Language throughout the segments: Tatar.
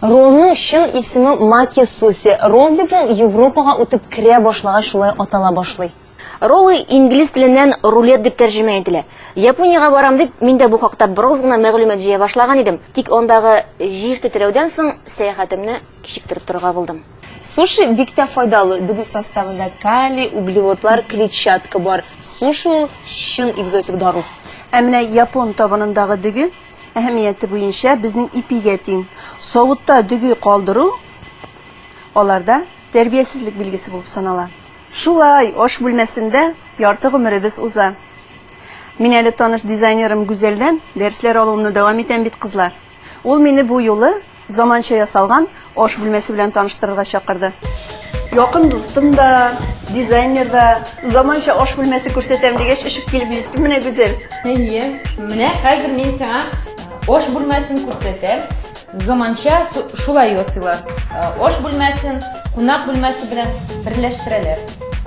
Роллның чын исеме Маки Суси. Ролл дип ул Европага үтеп керә башлагач шулай атала башлый. Роллы инглиз теленнән рулет дип тәрҗемә ителә. Япониягә барам дип, мин дә бу хакта бераз гына мәгълүмат җыя башлаган идем, тик андагы җир тетрәүдән соң сәяхәтемне кичектереп торырга булдым. Суши бик тә файдалы. Дөге составында калий, углеводлар, клетчатка бар. Суши ул чын экзотик дару. Ә менә япон табынындагы дөге әһәмияте буенча безнең ипигә тиң. Савытта дөге калдыру аларда тәрбиясезлек билгесе булып санала. Шулай аш бүлмәсендә ярты гомеребез уза. Мин әле таныш дизайнерым Гүзәлдән дәресләр алуымны дәвам итәм бит, кызлар. Ул мине бу юлы Заманча ясалган аш бүлмәсе белән таныштырырга чакырды. Якын дустым да, дизайнер да, заманча аш бүлмәсе күрсәтәм дигәч, очып килеп җитте менә Гүзәл. Әйе, менә хәзер мин сиңа аш бүлмәсен күрсәтәм. Заманча шулай ясыйлар. Аш бүлмәсен кунак бүлмәсе белән берләштерәләр.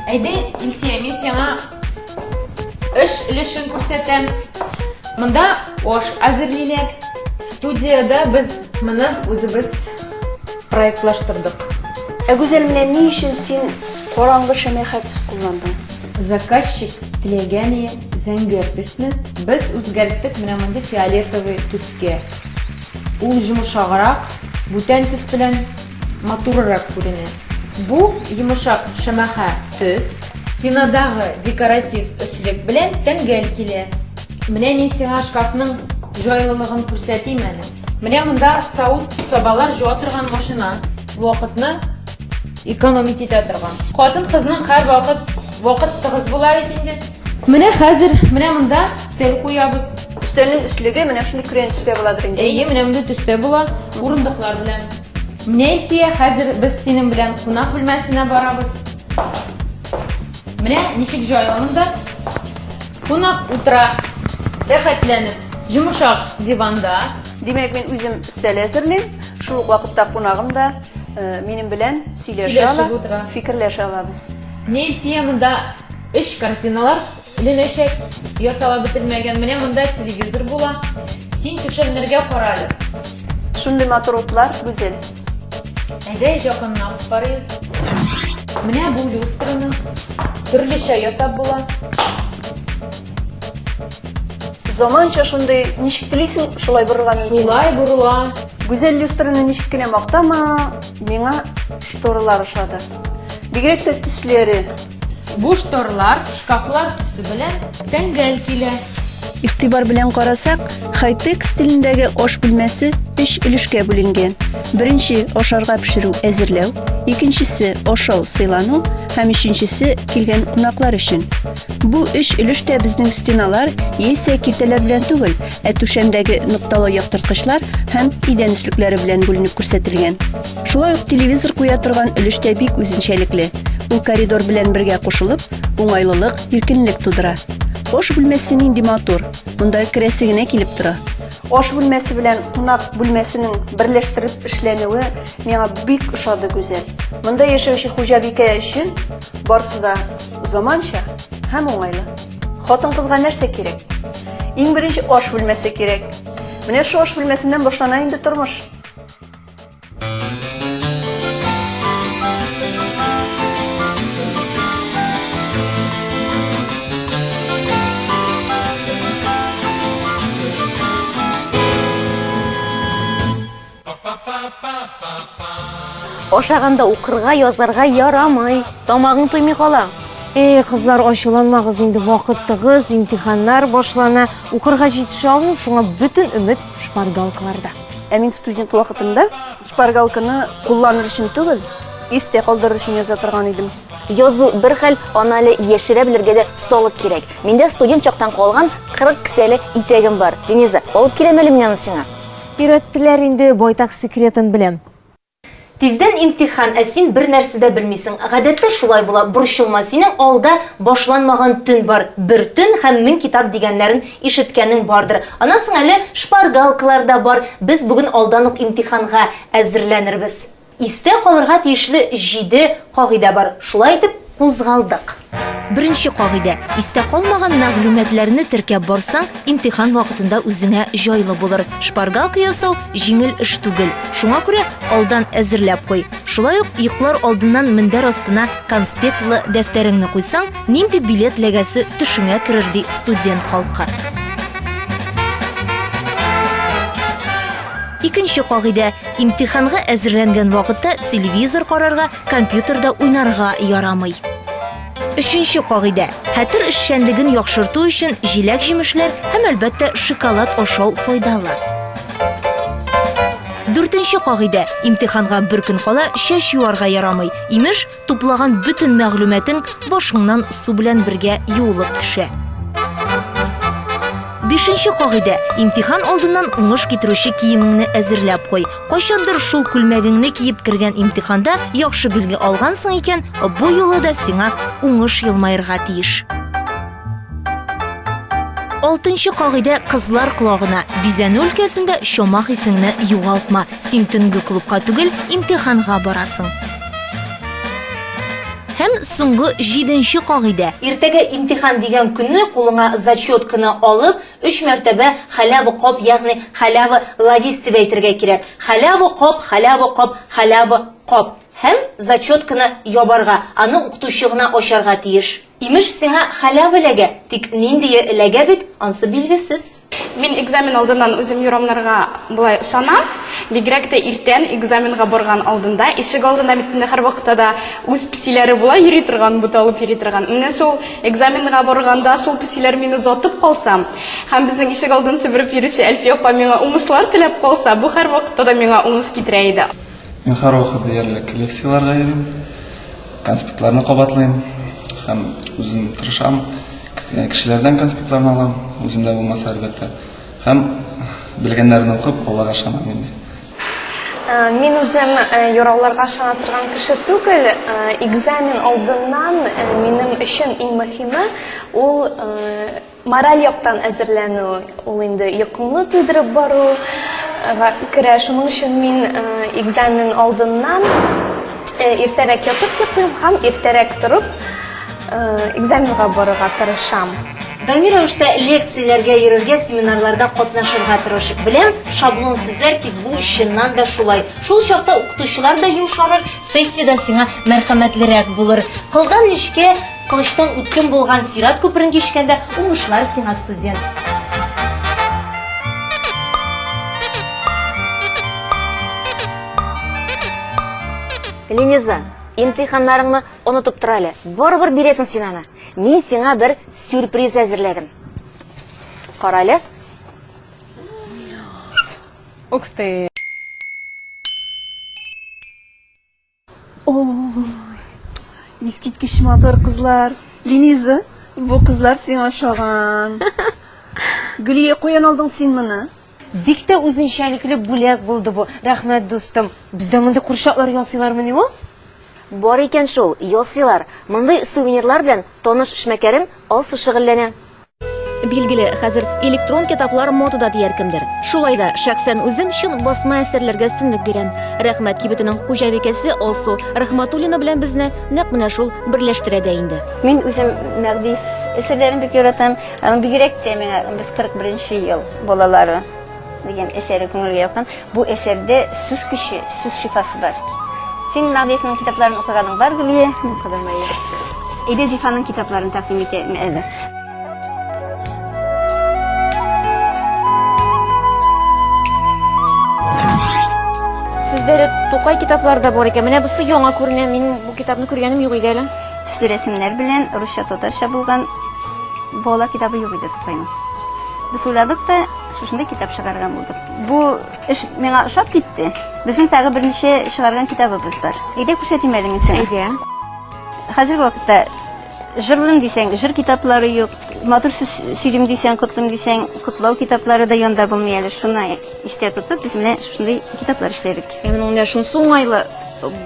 Әйдә, Илсия, мин сиңа Эш өлешен күрсәтәм. Монда аш әзерлиләр. Студиядә без моны үзебез проектлаштырдык. Ә Гүзәл, менә ни өчен син караңгы шәмә хәтис кулландың? Заказчик теләгәне зәңгәр төсне без үзгәрттек менә мондый фиолетовый төскә. Ул йомшаграк, бүтән төс белән матурырак күренә. Бу йомышак шәмәхә төс стенадагы декоратив өслек белән тәңгәл килә. Менә мин сиңа шкафның җайлылыгын күрсәтим әле. Менә монда савыт-сабалар җуа торган машина, вакытны экономить итә торган. Хатын-кызның һәрвакыт вакыт тыгыз була бит инде. Менә хәзер, менә монда стель куябыз. Стелнең өслеге менә шундый көрән төстә буладыр инде. Әйе, менә мондый төстә була, урындыклар белән. Нәйсия, хәзер без синең белән кунак бүлмәсенә барабыз. Менә ничек җайлымын да. Кунак утыра, рәхәтләнеп, йомшак диванда. Димәк, мин үзем стель әзерлим, шул ук вакытта кунагым да э, минем белән сөйләшә ала, фикерләшә алабыз. Нәйсия монда Өч картиналар эленәчәк, ясала бетермәгән. Менә монда телевизор була. Син түшәмнәргә кара әле. Шундый матур утлар, Гүзел. Әйдә, якыннан карыйбыз. Менә бу люстраны төрлечә ясап була. Заманча шундый, ничек телисең, шулай борырга мөмкин. Шулай борыла. Гүзәл люстраны ничек кенә мактама, миңа шторалар ошады. Бигрәк тә төсләре, Бу шторлар, шкафлар төсе белән тәңгәл килә. Игътибар белән карасак, хай-тек стилендәге аш бүлмәсе өч өлешкә бүленгән. Беренче ашарга пешерү әзерләү, икенчесе ашау сыйлану һәм өченчесе килгән кунаклар өчен. Бу өч өлеш тә безнең стеналар яисә киртәләр белән түгел, ә түшәмдәге нокталы яктырткычлар һәм идән өслекләре белән бүленеп күрсәтелгән. Шулай ук телевизор куя торган өлеш тә бик үзенчәлекле. Ул коридор белән бергә кушылып, уңайлылык, иркенлек тудыра. Ош бүлмәсе нинди матур. Монда керәсе генә килеп тора. Ош бүлмәсе белән кунак бүлмәсенең берләштереп эшләнүе миңа бик ошады гүзәл. Монда яшәүче хуҗабикә өчен барсы да заманча һәм уңайлы. Хатын кызга нәрсә кирәк? Иң беренче ош бүлмәсе кирәк. Менә шу ош бүлмәсеннән башлана инде тормыш. Ашаганда укырга, язарга ярамый. Тамагың туймый кала. Эй, кызлар, ачуланмагыз инде вакытыгыз, имтиханнар башлана. Укырга җитешә алмыйм, шуңа бөтен өмет шпаргалкаларда. Ә мин студент вакытымда шпаргалканы кулланыр өчен түгел, истә калдырыр өчен яза торган идем. Язу бер хәл, аны әле яшерә белергә дә осталык кирәк. Миндә студент чактан калган 40 кесәле итәгем бар. Венеза, алып киләм әле мин аны сиңа. Өйрәттеләр инде, байтак секретын беләм. Тиздән имтихан, ә син бер нәрсә дә белмисең. Гадәттә шулай була. Борчылма, синең алда башланмаган төн бар. Бер төн һәм мең китап дигәннәрен ишеткәнең бардыр. Аннан соң әле шпаргалкалар да бар. Без бүген алдан ук имтиханга әзерләнербез. Истә калырга тиешле җиде кагыйдә бар. Шулай итеп. Кузгалдык. Беренче кагыйдә, истә калмаган мәгълүматларны теркәп барсаң, имтихан вакытында үзеңә җайлы булыр. Шпаргалка ясау, җиңел эш түгел. Шуңа күрә алдан әзерләп куй. Шулай ук йоклар алдыннан мендәр астына конспектлы дәфтәреңне куйсаң, нинди билет ләгәсе төшеңә керер, ди студент халкы. Икенче кагыйдә, имтиханга әзерләнгән вакытта телевизор карарга, компьютерда уйнарга ярамый. Өченче кагыйдә. Хәтер эшчәнлеген яхшырту өчен җиләк-җимешләр һәм әлбәттә шоколад ашау файдалы. Дүртенче кагыйдә. Имтиханга бер көн кала чәч юарга ярамый. Имеш, туплаган бөтен мәгълүматың башыңнан су белән бергә юылып төшә. Бишенче кагыйдә. Имтихан алдыннан уңыш китерүче киемеңне әзерләп куй. Кайчандыр шул күлмәгеңне киеп кергән имтиханда яхшы билге алгансың икән, бу юлы да сиңа уңыш елмаерга тиеш. Алтынчы кагыйдә кызлар колагына. Бизәнү өлкәсендә чомах исеңне югалтма. Син төнге клубка түгел, имтиханга барасың. Һәм соңгы җиденче кагыйдә. Иртәгә имтихан дигән көнне кулыңа зачет кына алып, Өч мәртәбә халява коп, ягъни халява лавис дип әйтергә кирәк. Халява коп, халява коп, халява коп. Һәм зачетканы ябарга, аны укытучы гына ачарга тиеш. Имеш, сиңа халява эләгә, тик ниндие эләгә бит, ансы билгесез. Мин экзамен алдыннан үзем юрамнарга болай ышанам. Бигрәк тә иртән, экзаменга барган алдында. Ишек алдында бит инде һәрвакытта да үз песиләре була, йөри торган, буталып йөри торган. Менә шул Экзаменга барганда шул песиләр мине озатып калса һәм безнең ишегалдын себереп йөрүче Әлфия апа миңа уңышлар теләп калса, бу һәрвакытта да миңа уңыш китерә иде. Мин һәрвакыт диярлек лекцияләргә йөрим, конспектларны кабатлыйм һәм үзем тырышам, кешеләрдән конспектларны алам, үземдә булмаса, әлбәттә, һәм белгәннәрне укып, Аллага ышанам инде. Э, мин үзем э, юрауларга ышана торган кеше түгел э, экзамен алдыннан минем өчен иң мөһиме ул мораль яктан әзерләнү ул инде йокыңны туйдырып бару керә шуның өчен мин экзамен алдыннан иртәрәк ятып йоклыйм һәм иртәрәк торып Экзаменга барырга тырышам. Даими рәвештә лекцияләргә йөрергә, семинарларда катнашырга тырыш. Беләм, шаблон сүзләр, тик бу чыннан да шулай. Шул чакта укытучылар да йомшарыр, сессия дә сиңа мәрхәмәтлерәк булыр. Кылдан нечкә, кылычтан үткен булган сират күперен кичкәндә, уңышлар сиңа, студент! Лениза, имтиханнарыңны Онытып тор әле. Барыбер бирәсең син аны. Мин сиңа бер сюрприз әзерләдем. Кара әле. Ух ты. Искиткеч матур кызлар. Линиза, бу кызлар сиңа ошаган. Гөлия, каян алдың син моны? Бик тә үзенчәлекле бүләк булды бу. Рәхмәт, дустым. Бездә мондый курчаклар ясыйлармыни ул? Бар икән шул, ясыйлар. Мондый сувенирлар белән таныш эшмәкәрем Алсу шөгыльләнә. Билгеле, хәзер электрон китаплар модада дияр кемдер. Шулай да, шәхсән үзем чын басма әсәрләргә өстенлек бирәм. Рәхмәт кибетенең хуҗабикәсе Алсу Рәхмәтуллина белән безне нәкъ менә шул берләштерә дә инде. Мин үзем Мәгъди әсәрләрен бик яратам. Аның бигрәк тә миңа, без 41 нче ел. Балалары дигән әсәре күңелгә якын. Бу әсәрдә сүз көче, сүз шифасы бар. Син Мәгъдиевнең китапларын укыганың бар, Гөлия? Укыдым, әйе. Әйдә Зифаның китапларын тәкъдим итәм әле. Сездә Тукай китаплары да бар икән. Менә бусы яңа күренә. Мин бу китапны күргәнем юк иде әле. Төсле рәсемнәр белән русча татарча булган бала китабы юк иде Тукайның. Без уйладык та, шушында китап чыгарган булдык. Бу эш миңа ошап китте. Безнең тагы берничә чыгарган китабыбыз бар. Әйдә күрсәтим әле мин сиңа. Әйдә. Хәзерге вакытта жырлыйм дисәң, жыр китаплары юк. Матур сүз сөйлим дисәң, котлыйм дисәң, котлау китаплары да янда булмый әле. Шуны истә тотып, без менә шушындый китаплар эшләдек. Ә менә менә шунысы уңайлы,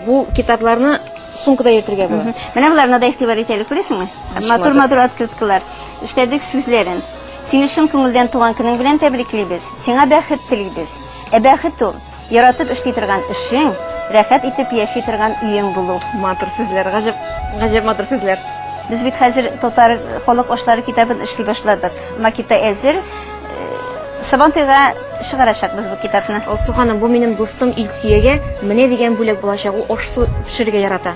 бу китапларны сумкада йөртергә була. Менә боларны да игътибар итәле, күрәсеңме? Матур-матур открыткалар. Эшләдек сүзләрен. Сине чын күңелдән туган көнең белән тәбриклибез, сиңа бәхет телибез. Ә бәхет ул, яратып эшли торган эшең, рәхәт итеп яши торган өең булу. Матур сүзләр, гаҗәп, гаҗәп матур сүзләр. Без бит хәзер татар халык ашлары китабын эшли башладык. Макеты әзер. Сабантуйга чыгарачакбыз бу китапны. Алсу ханым, бу минем дустым Илсөягә менә дигән бүләк булачак. Ул аш-су пешерергә ярата.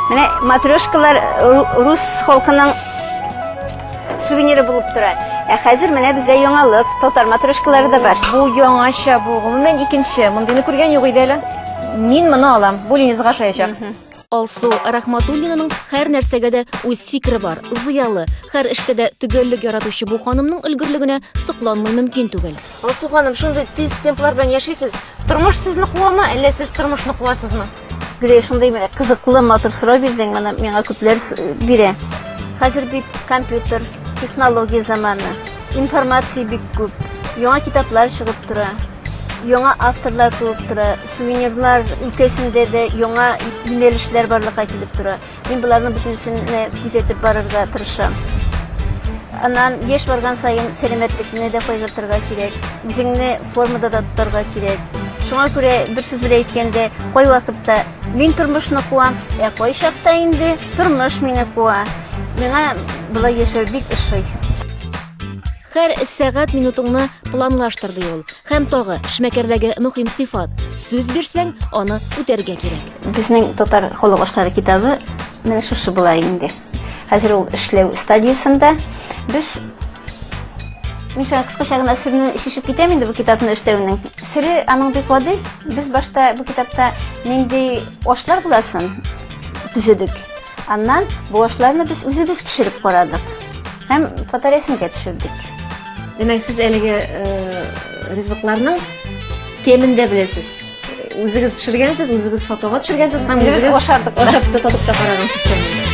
Менә матрешкалар рус халкының сувениры булып тора. Ә хәзер менә бездә яңалык, татар матрешкалары да бар. Бу яңача бу, гомумән икенче. Мондыйны күргән юк иде әле. Мин моны алам. Бу Ленизга ошаячак. Алсу Рахматуллинаның һәр нәрсәгә дә үз фикере бар, зыялы, һәр эштә дә төгәллек яратучы бу ханымның өлгерлегенә сокланмый мөмкин түгел. Алсу ханым, шундый тиз темплар белән яшисез. Тормыш сезне куамы, әллә сез тормышны куасызмы? Гүләй, шундый менә кызыклы, матур сорау бирдең, моны миңа күпләр бирә. Хәзер бит компьютер, технология заманы, информация бик күп, яңа китаплар чыгып тора, яңа авторлар туып тора, сувенирлар өлкәсендә дә яңа юнәлешләр барлыкка килеп тора. Мин боларның бөтенесенә күзәтеп барырга тырышам. Аннан еш барган саен сәламәтлекне дә кайгыртырга кирәк, үзеңне формада да тотарга кирәк. Шуңа күрә бер сүз белән әйткәндә, кайвакытта мин тормышны куам, ә кайчакта инде тормыш мине куа. Миңа болай яшәү бик ошый. Хәр сәгать минутыңны планлаштыр ди ул. Хәм тагы шмәкәрдәге мөхим сыйфат. Сүз бирсәң, аны үтәргә кирәк. Безнең татар халык ашлары китабы менә шушы була инде. Хәзер ул эшләү стадиясендә. Без Мин сиңа кыскача гына серне шишеп китәм инде бу китапны эшләүнең. Сере аның бик гади. Без башта бу китапта нинди ашлар буласын төзедек. Аннан бу ашларны без үзебез пешереп карадык һәм фоторәсемгә төшердек. Димәк, сез әлеге э, ризыкларның темен дә беләсез. Үзегез пешергәнсез, үзегез фотога төшергәнсез һәм үзегез ашатып та татып та карагансыз.